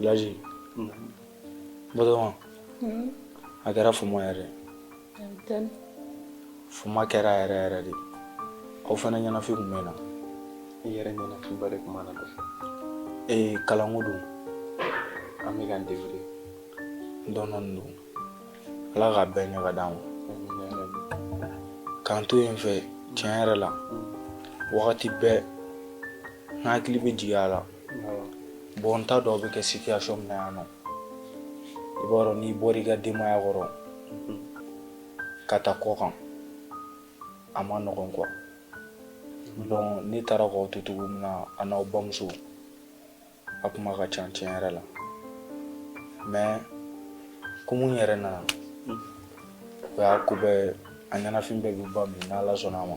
Laji, Batoma, a kɛra fama yɛrɛ Fuma kɛra yɛrɛ yɛrɛ de aw fana ɲɛnafin kun bɛ n na i yɛrɛ ɲɛnafinba de kun b'an na dɛ ee kalanko don an bɛ k'an débrouiller dɔɔnin don ala k'a bɛɛ ɲɛ ka d'an ma k'an to yen fɛ tiɲɛ yɛrɛ la wagati bɛɛ n hakili bɛ jigin aw la bon n t'a dɔn aw bɛ kɛ situation min na yan n kɔ i b'a dɔn n'i bɔra i ka denbaya kɔrɔ ka taa kɔkan a man nɔgɔn quoi donc ne taara k'aw to cogo min na aw n'aw bamuso a kuma ka ca tiɲɛ yɛrɛ la mais komi n yɛrɛ nana o y'a ko bɛɛ a ɲɛnafin bɛɛ bɛ ban bi n'ala sɔnna a ma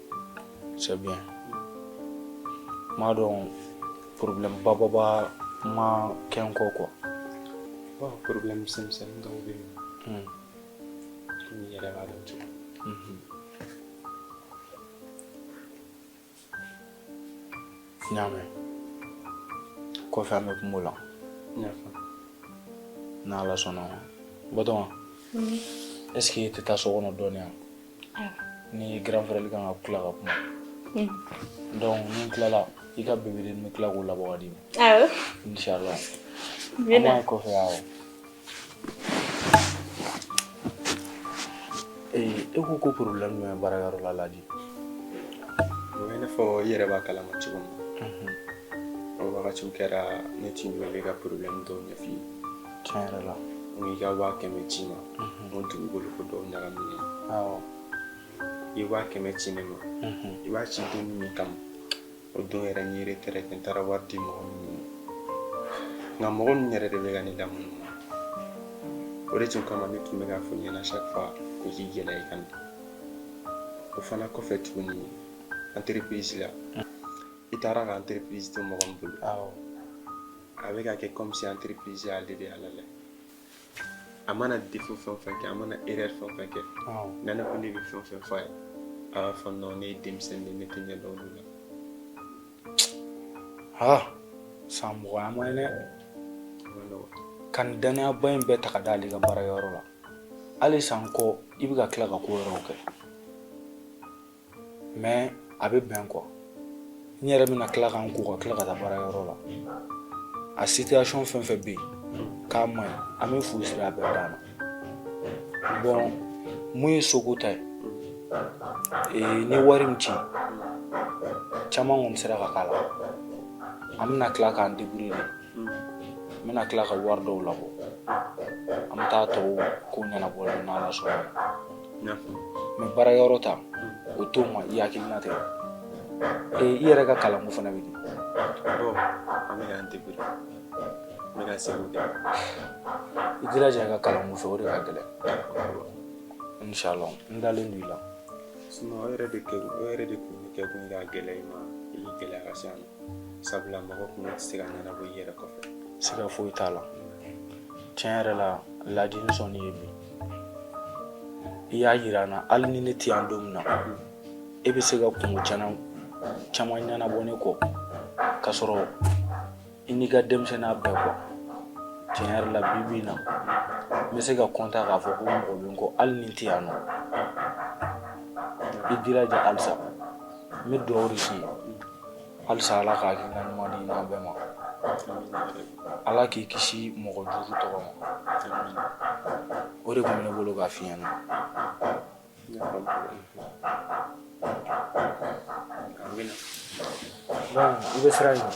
c'est bien n m'a dɔn problème bababa ma kɛ n kɔ quoi problème misɛnmisɛnni dɔw bɛ yen komi i yɛrɛ b'a dɔn cogo mhm. n y'a mɛn kɔfɛ an bɛ kuma o la n'ala sɔnna a ma Batoma est ce que e tɛ taa so kɔnɔ dɔɔni yan ni grand frère kan ka kila ka kuma hmm. donc ni n tilala i ka bébé de n bɛ tila k'o labɔ ka d'i ma awɔ inchallah an b'a ye kɔfɛ awɔ e ko ko problème jumɛn bɛ baarakɛyɔrɔ la Laji o b'i n'a fɔ i yɛrɛ b'a kalama cogo min na o wagatiw kɛra ne tun b'i wele ka problème dɔw ɲɛf'i ye tiɲɛ yɛrɛ la n ko i ka waa kɛmɛ ci n ma n ko dugukolo ko dɔw ɲagaminen awɔ i ye waa kɛmɛ ci ne ma i b'a ci don min kama o don yɛrɛ n ye retrait n taara wari di mɔgɔ min ma nka mɔgɔ min yɛrɛ de bɛ ka ne lamunu o de tun kama ne tun bɛ k'a fɔ i ɲɛna chaque fois ko k'i gɛlɛya i ka na o fana kɔfɛ tuguni entreprise la i taara ka entreprise to mɔgɔ min bolo awɔ a bɛ ka kɛ comme si entreprise y'ale de ye halala a mana défaut fɛn o fɛn kɛ a mana erreur fɛn o fɛn kɛ ni ne ko ne bɛ fɛn o fɛn fɔ a ye a b'a fɔ non ne ye denmisɛnnin de ye ne tɛ fɛn dɔn olu la ha san mugan an ma ye dɛ a man nɔgɔn ka nin dannayaba in bɛɛ ta ka d'ale kan baarayɔrɔ la hali san kɔ i bɛ ka tila ka ko wɛrɛw kɛ mais a bɛ bɛn quoi n yɛrɛ bɛna tila ka n ko ka tila ka taa baara yɔrɔ la a situation fɛn fɛn bɛ yen k'a man ɲi an bɛ fu siri a bɛɛ dan na bon mun ye soko ta ye ee, ni wari min ci caman kɔni sera ka k'a la an bɛna tila k'an débrouiller de n bɛna tila ka wari dɔw labɔ an bɛ taa tɔw ko ɲɛnabɔ n'ala sɔnna mais baara yɔrɔ ta o to n ma i hakili latigɛ ee i yɛrɛ ka kalanko fana bɛ di bon an bɛ k'an débrouiller n bɛ ka seko kɛ i jilaja i ka kalanko fɛ o de ka gɛlɛn inshallah n dalen don i la sinon o yɛrɛ de kɛ o yɛrɛ de kun bɛ kɛ kun ka gɛlɛya i ma i bɛ gɛlɛya ka se a ma sabula mɔgɔ kun tɛ se ka ɲɛnabɔ i yɛrɛ kɔfɛ siga foyi t'a la tiɲɛ yɛrɛ la laji n sɔnn'i ye bi i y'a jira n na hali ni ne tɛ yan don min na e bɛ se ka kunko caman ɲɛnabɔ ne kɔ k'a sɔrɔ i n'i ka denmisɛnninya bɛɛ kɔ tiɲɛ yɛrɛ la bi bi in na n bɛ se ka kɔntan k'a fɔ ko mɔgɔ bɛ n kɔ hali ni n tɛ yan nɔ i jilaja halisa n bɛ dugawu de k'i ye halisa ala ka hakilina ɲuman d'i n'an bɛɛ ma ala k'i kisi mɔgɔ jugu tɔɔrɔ ma o de tun bɛ ne bolo k'a f'i ɲɛ na i bɛ sira ɲini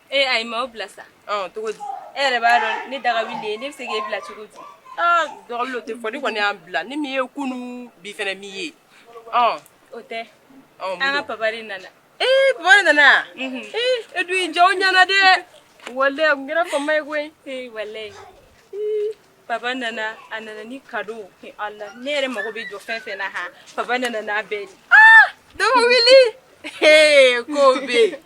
Ee ayi ma bila sa cogo di e yɛrɛ b'a dɔn ne daga wili ne bɛ se k'e bila cogo di dɔgɔ o tɛ fɔ ne kɔni y'a bila ni min ye kunun bi fana min ye o tɛ an ka pa de nana ee pa nana e dun ja ɲɛna dɛ walayi n kɛra faama ye koyi walayi pa nana a nana ni cadeau ala ne yɛrɛ mago bɛ jɔ fɛn fɛn na h pa nana n'a bɛɛ dɔgɔ ko bɛ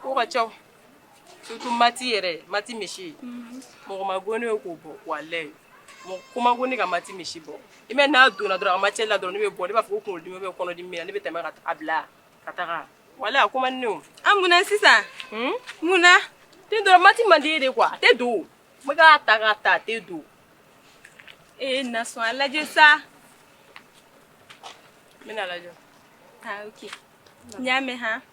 Ko ka ca surtout math yɛrɛ math monsieur mɔgɔ man go ne ye k'o bɔ walayi mɔgɔ ko man go ne ye ka math monsieur bɔ i bɛ n'a donna dɔrɔn a matière la dɔrɔn ne bɛ bɔ ne b'a fɔ kun dimi bɛ kɔnɔdimi bɛ n na ne bɛ tɛmɛ ka a bila ka taga walayi a ko man di ne ye an munna sisan munna ten dɔrɔn math man di n ye de quoi a tɛ don n b'a ta k'a ta a tɛ don e na a lajɛ sa n bɛna lajɛ n y'a mɛn h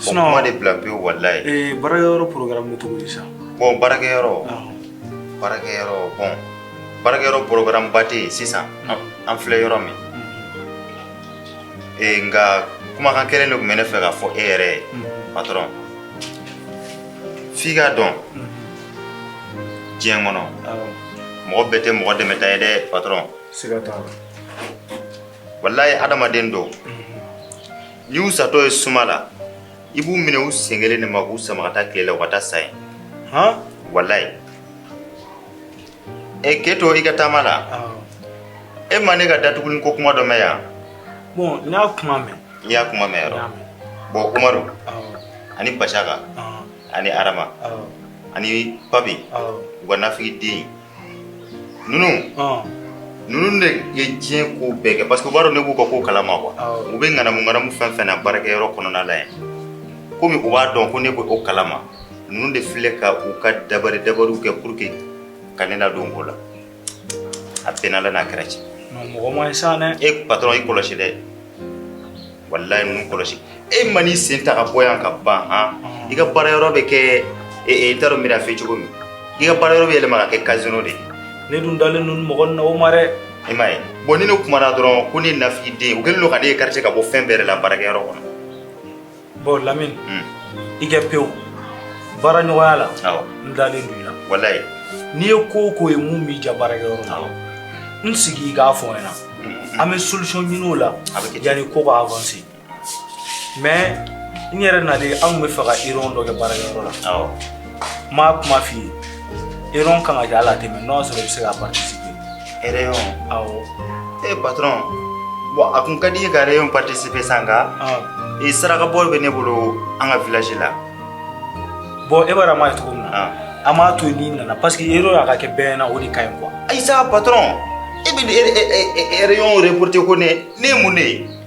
sinɔn kuma de bila pewu walayi ee baarakɛyɔrɔ porogarame bɛ cogo di sa bɔn baarakɛyɔrɔ baarakɛyɔrɔ bɔn baarakɛyɔrɔ porogarame ba tɛ yen sisan an filɛ yɔrɔ min ee nka kumakan kelen de tun bɛ ne fɛ k'a fɔ e yɛrɛ ye patɔrɔn f'i k'a dɔn diɲɛ kɔnɔ mɔgɔ bɛɛ tɛ mɔgɔ dɛmɛta ye dɛ patɔrɔn siga t'a la walayi adamaden dɔw N'i y'u satɔ ye suma la i b'u minɛ u sen kelen de ma k'u sama ka taa tile la u ka taa sa yen han walayi ɛ k'e to i ka taama la Awɔ. e ma ne ka datuguli ko kuma dɔ mɛn yan Bon, n y'a kuma mɛn. i y'a kuma mɛn N y'a yɔrɔ mɛn. bɔn umaru Awɔ. ani basaka Awɔ. ani arama Awɔ. ani papi Awɔ. u ka nafigi den ninnu ninnu de ye diɲɛ ko bɛɛ kɛ parce que u b'a dɔn ne b'u ka ko kalama quoi u bɛ ŋanamu ŋanamu fɛn fɛn na baarakɛyɔrɔ kɔnɔna la yan komi u b'a dɔn ko ne bɛ o kalama ninnu de filɛ ka u ka dabari dabariw kɛ pour que ka ne ladon ko la a bɛnna la n'a kɛra cɛ mɔgɔ man ɲi sa dɛ e patron i kɔlɔsi dɛ walayi ninnu kɔlɔsi e ma n'i sen ta ka bɔ yan ka ban han i ka baara yɔrɔ bɛ kɛ n t'a dɔn n bɛna f'i cogo min i ka baara yɔrɔ bɛ yɛlɛma ka kɛ casino de ye ne dun dalen don mɔgɔ na o ma dɛ i m'a ye bɔn ni ne kumana dɔrɔn ko ne nafigi den u kɛlen don ka ne écarter ka bɔ fɛn bɛɛ yɛrɛ la baarakɛyɔrɔ kɔnɔ Bon Lamini un i kɛ pewu baara ɲɔgɔnya la awɔ n dalen don i la walayi n'i ye ko o ko ye min b'i ja baarakɛyɔrɔ la awɔ n sigi i k'a fɔ n ɲɛna un an bɛ solution ɲini o la A bɛ kɛ ten. yanni ko ka avancer mais n yɛrɛ nalen an tun bɛ fɛ ka réunion dɔ kɛ baarakɛyɔrɔ la awɔ n m'a kuma f'i ye réunion kan ka kɛ hali a tɛ mɛn n'o y'a sɔrɔ i bɛ se ka participer Hɛrɛ ye aw e bat bɔn a kun ka di ye ka yɛrɛ ye patisi bɛ san kan i saraka bɔ bɛ ne bolo an ka vilasi la bɔn e b'a ma ye cogo min na an b'a to ni nana parce que e yɔrɔ y'a ka kɛ bɛn na o de ka ɲi kuwa ayi sa bat e bɛ yɛrɛ yɔrɔ yɛrɛ porote ko ne ne ye mun de ye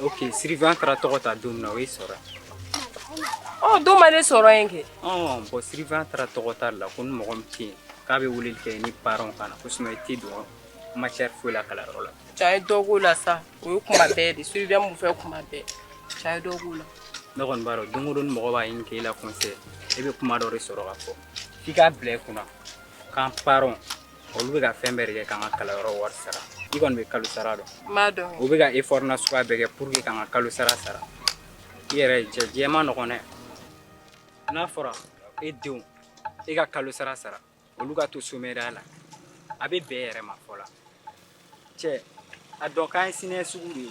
ok surveillant taara tɔgɔ ta don min na o y'i sɔrɔ yen o don ma ne sɔrɔ yen kɛ ɔ bɔn surveillant taara tɔgɔ ta la ko ni mɔgɔ min tɛ yen k'a bɛ weleli kɛ ni parents ka na ko sinon i tɛ don matière foyi la kalanyɔrɔ la cɛ a ye dɔ k'o la sa o ye kuma bɛɛ de surveillant mun fɛ kuma bɛɛ cɛ a ye dɔ k'o la ne kɔni b'a dɔn don o don ni mɔgɔ b'a ɲini k'e la conseil e bɛ kuma dɔ de sɔrɔ ka fɔ f'i k'a bila i kunna k'an parents olu bɛ ka fɛn bɛɛ de kɛ k'an ka kalanyɔrɔ wari sara i kɔni bɛ kalo sara dɔn n b'a dɔn u bɛ ka effort n'a suguya bɛɛ kɛ pour que k'an ka kalo sara sara i yɛrɛ cɛ diɲɛ man nɔgɔn dɛ n'a fɔra e denw e ka kalo sara sara olu ka to somɛriya la a bɛ bɛn yɛrɛ ma fɔla cɛ a dɔn k'an ye sinɛ sugu de ye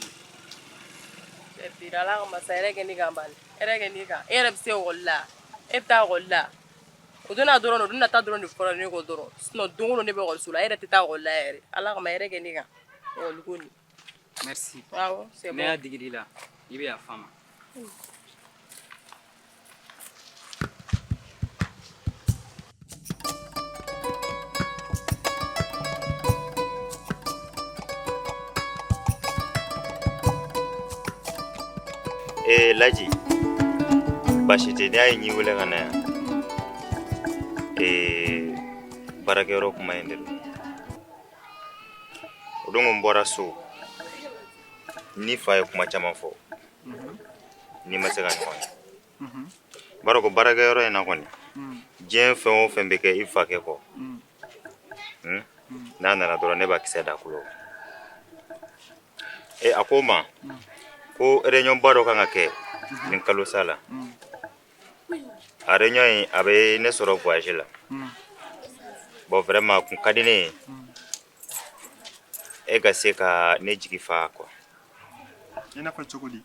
cɛ bira ala kama sa hɛrɛ kɛ ne kan bali hɛrɛ kɛ ne kan e yɛrɛ bɛ se ekɔli la e bɛ taa ekɔli la o don na dɔrɔn o don nata dɔrɔn de fɔra ne kɔ dɔrɔn sinon don o don ne bɛ école so la e yɛrɛ tɛ taa école la yɛrɛ Ala kama hɛrɛ kɛ ne kan école ko nin merci awɔ c'est bon ne y'a digi d'i la i bɛ yafa n ma Ee laji baasi tɛ ne y'a ye n y'e wele ka na yan ee baarakɛyɔrɔ kuma in de don o don n bɔra so n'i fa ye kuma caman fɔ n'i ma se ka ɲɔgɔn ye b'a dɔn ko baarakɛ yɔrɔ in na kɔni diɲɛ fɛn o fɛn bɛ kɛ i fakɛ kɔ n'a nana dɔrɔn ne b'a kisɛ d'a kulo e a ko n ma ko réunion ba dɔ kan ka kɛ nin kalo sa la a réunion in a bɛ ne sɔrɔ voyage la bon vraiment a kun ka di ne ye e ka se ka ne jigi fa quoi i n'a fɔ cogo di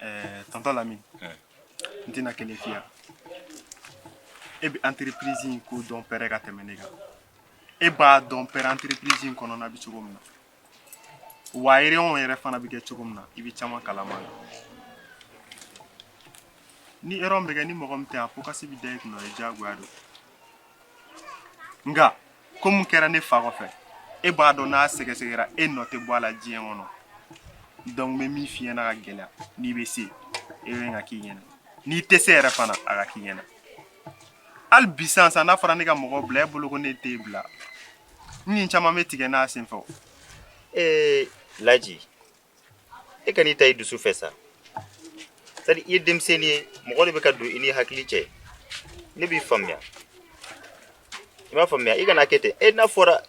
Ɛɛ tonton Lamine n tɛna kelen f'i ye e bɛ entreprise in ko dɔn pɛrɛ ka tɛmɛ ne kan e b'a dɔn pɛrɛ entreprise in kɔnɔna bɛ cogo min na wa réunion yɛrɛ fana bɛ kɛ cogo min na i bɛ caman kalama la ni réunion bɛ kɛ ni mɔgɔ min tɛ a fo kasi bɛ da i kunna o ye diyagoya don nka ko mun kɛra ne fa kɔfɛ e b'a dɔn n'a sɛgɛsɛgɛra e nɔ tɛ bɔ a la diɲɛ kɔnɔ donc n bɛ min f'i ɲɛna ka gɛlɛya n'i bɛ se e bɛ ka k'i ɲɛna n'i tɛ se yɛrɛ fana a ka k'i ɲɛna hali bi sisan sisan n'a fɔra ne ka mɔgɔ bila e bolo ko ne t'e bila n ni caman bɛ tigɛ n'a senfɛ o. ee laji e kan'i ta i dusu fɛ sa c'est à dire i ye denmisɛnnin ye mɔgɔ de bɛ ka don i n'i hakili cɛ ne b'i faamuya i b'a faamuya i kana kɛ ten e n'a fɔra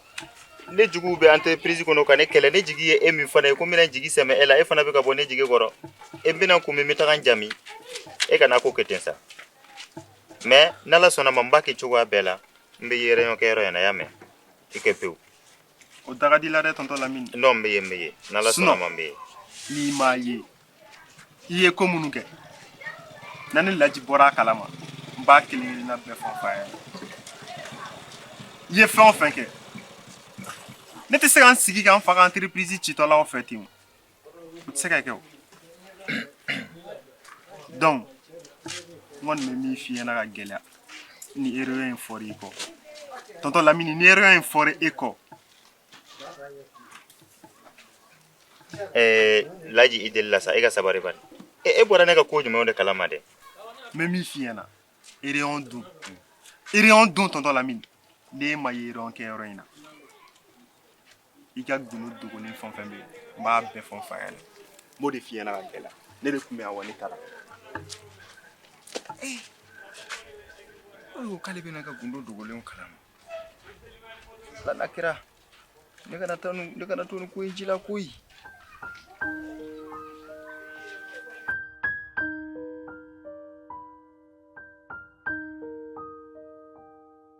ne juguw bɛ entreprise kɔnɔ ka ne kɛlɛ ne jigi ye e min fana ye ko n bɛna jigi sɛmɛ e la e fana bɛ ka bɔ ne jigi kɔrɔ e bɛna kun min n bɛ taga n jami e kana ko kɛ ten sa mais n'ala sɔnna ma n b'a kɛ cogoya bɛɛ la n bɛ ye réunion kɛyɔrɔ in na y'a mɛn i kɛ pewu o da ka di i la dɛ tonton Lamine non n bɛ ye n bɛ ye n'ala sɔnna a ma n bɛ ye n'i m'a ye i ye ko minnu kɛ na ne Laji bɔra a kalama n b'a kelen kelenna bɛɛ fɔ n fa ye i ye fɛn o fɛn kɛ ne tɛ se ka n sigi ka n fa ka entreprise citɔlaw fɛ ten o. se ka kɛ o donc n kɔni bɛ min f'i ɲɛna k'a gɛlɛya ni réunion in fɔra i kɔ tonton Lamine ni réunion in fɔra e kɔ ɛɛ laji i delila sa e ka sabari bani e e bɔra ne ka ko jumɛnw de kalama dɛ n bɛ min f'i ɲɛna réunion dun réunion dun tonton Lamine ne ma ye réunion kɛyɔrɔ in na i ka gundo dogolen fɛn fɛn bɛ yen n b'a bɛɛ fɔ n fa ɲɛna n b'o de f'i ɲɛna k'a gɛlɛya ne de tun bɛ yan wa ne taara ee o de ko k'ale bɛ ne ka gundo dogolenw kalama ala m'a kɛra ne kana to nin ko in ji la koyi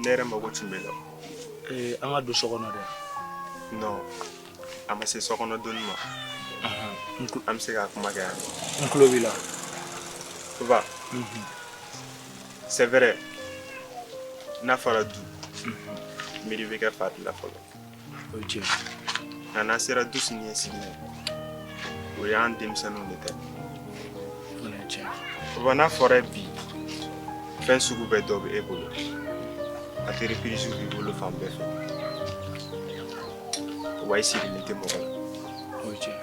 ne yɛrɛ mago tun b'e la ee an ka don so kɔnɔ dɛ non a ma se so kɔnɔ donni ma an bɛ se ka kuma kɛ yan n tulo b'i la papa c'est vrai n'a fɔra du miiri bɛ kɛ fa de la fɔlɔ o ye tiɲɛ nka n'a sera du sini ɲɛsigi ma o y'an denmisɛnninw de ta ye papa n'a fɔra bi fɛn sugu bɛɛ dɔ bɛ e bolo entreprises b'i bolo fan bɛɛ fɛ wa i sirilen tɛ mɔgɔ la o ye tiɲɛ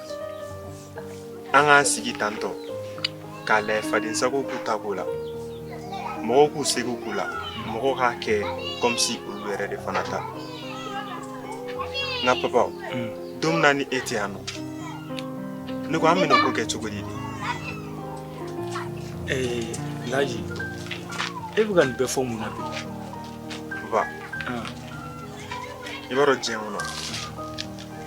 an k'an sigi tantɔ k'a lajɛ fadensago k'u ta k'o la mɔgɔw k'u sago k'o la mɔgɔw k'a kɛ comme si olu yɛrɛ de fana ta nka papa don min na ni e tɛ yan nɔ ne ko an bɛna ko kɛ cogo di Eh, Laji, e bɛ ka nin bɛɛ fɔ mun na bi? papa i b'a dɔn diɲɛ kɔnɔ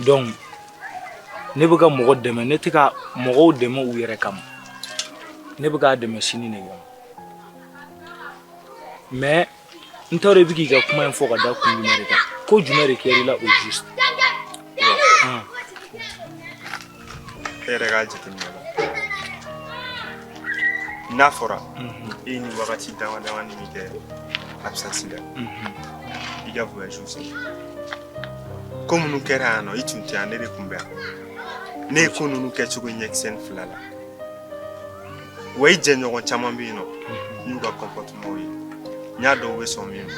donc ne bɛ ka mɔgɔ dɛmɛ ne tɛ ka mɔgɔw dɛmɛ u yɛrɛ kama ne bɛ k'a dɛmɛ sini de kama mais n t'a dɔn i bɛ k'i ka kuma in fɔ ka da kun jumɛn de kan ko jumɛn de kɛra i la au juste ne yɛrɛ ka jateminɛ la n'a fɔra e ye wagati damadamanin min kɛ absence la i ka voyage sen ko minnu kɛra yan nɔ i tun tɛ yan ne de tun bɛ yan ne ye ko ninnu kɛcogo ɲɛkisɛnin fila la wa i jɛɲɔgɔn caman bɛ yen nɔ n y'u ka comportements ye n y'a dɔn u bɛ sɔn min ma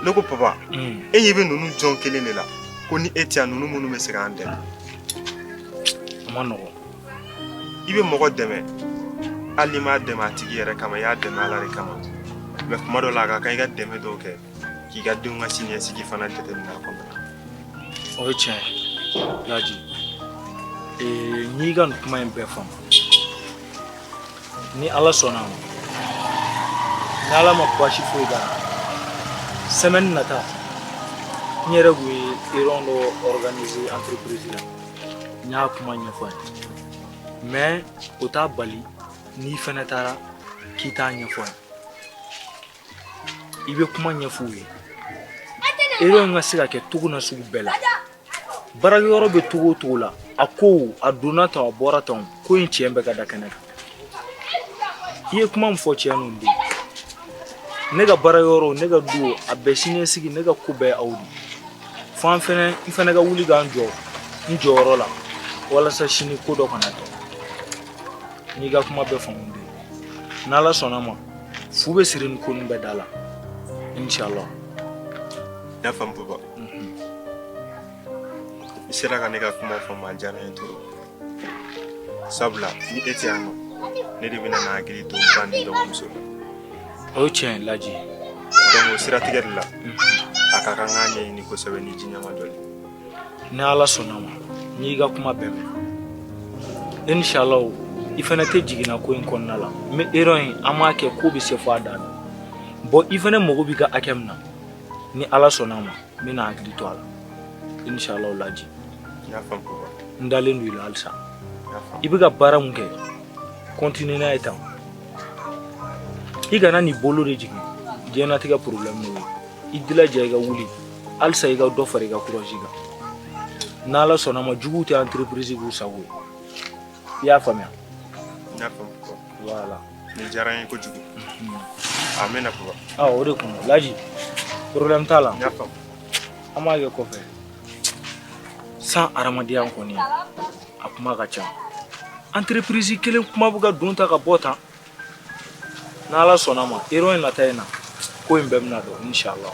ne ko papa e ɲɛ bɛ ninnu jɔn kelen de la ko ni e tɛ yan ninnu minnu bɛ se k'an dɛmɛ a man nɔgɔn i bɛ mɔgɔ dɛmɛ hali n'i m'a dɛmɛ a tigi yɛrɛ kama i y'a dɛmɛ ala de kama mɛ kuma dɔ la a ka kan i ka dɛmɛ dɔw kɛ k'i ka denw ka siniɲɛsigi fana jateminɛ a kɔnɔ o ye tiɲɛ ye laji ee n y'i ka nin kuma in bɛɛ faamu ni ala sɔnna ma ni ala ma baasi foyi k'a la semaine nata n yɛrɛ kun ye réunion dɔ organiser entreprise la n y'a kuma ɲɛfɔ a ye mɛ o t'a bali n'i fɛnɛ taara k'i t'a ɲɛfɔ a ye i bɛ kuma ɲɛf'u ye réunion ka se ka kɛ cogo na sugu bɛɛ la baarakɛyɔrɔ bɛ cogo o cogo la a ko a donna tan a bɔra tan ko in tiɲɛ bɛ ka da kɛnɛ kan i ye kuma min fɔ tiɲɛ ninnu de ne ka baarakɛyɔrɔ ne ka du a bɛɛ siniɲɛsigi ne ka ko bɛɛ aw de fo an fana n fana ka wuli ka n jɔ n jɔyɔrɔ la walasa sini ko dɔ kana kɛ n y'i ka kuma bɛɛ faamu dɛ n'ala sɔnna ma fu bɛ siri ni ko nin bɛɛ da la inshallah n y'a faamu papa I sera ka ne ka kuma faamu a diyara n ye trop sabula ni e tɛ yan nɔ ne de bɛna n hakili to n ba ni dɔgɔmuso la o ye tiɲɛ laji donc o siratigɛ de la a ka kan k'a ɲɛɲini kosɛbɛ nin diɲɛ ma dɔn dɛ ni ala sɔnna ma n y'i ka kuma bɛɛ mɛn inshallah i fana tɛ jiginna ko in kɔnɔna la mais réunion an b'a kɛ ko bɛ se fo a dan na bon i fana mago b'i ka hakɛ min na ni ala sɔnna a ma n bɛna n hakili to a la inshallah o laji n y'a faamu papa n dalen don i la halisa n y'a faamu i bɛ ka baara min kɛ continue n'a ye tan i kana n'i bolo de jigin diɲɛnatigɛ problème de ye i jilaja i ka wuli halisa i ka dɔ fara i ka courage kan n'ala sɔnna a ma juguw tɛ entreprise k'u sago ye I y'a faamuya voilà nin diyara n ye kojugu a bɛnna o de kun laji problème t'a la an b'a kɛ kɔfɛ sa hadamadenya kɔni a kuma ka ca entreprise kelen kuma bɛ ka don tan ka bɔ tan n' ala sɔnna ma réunion nata in na ko in bɛɛ bɛna dɔn inshallah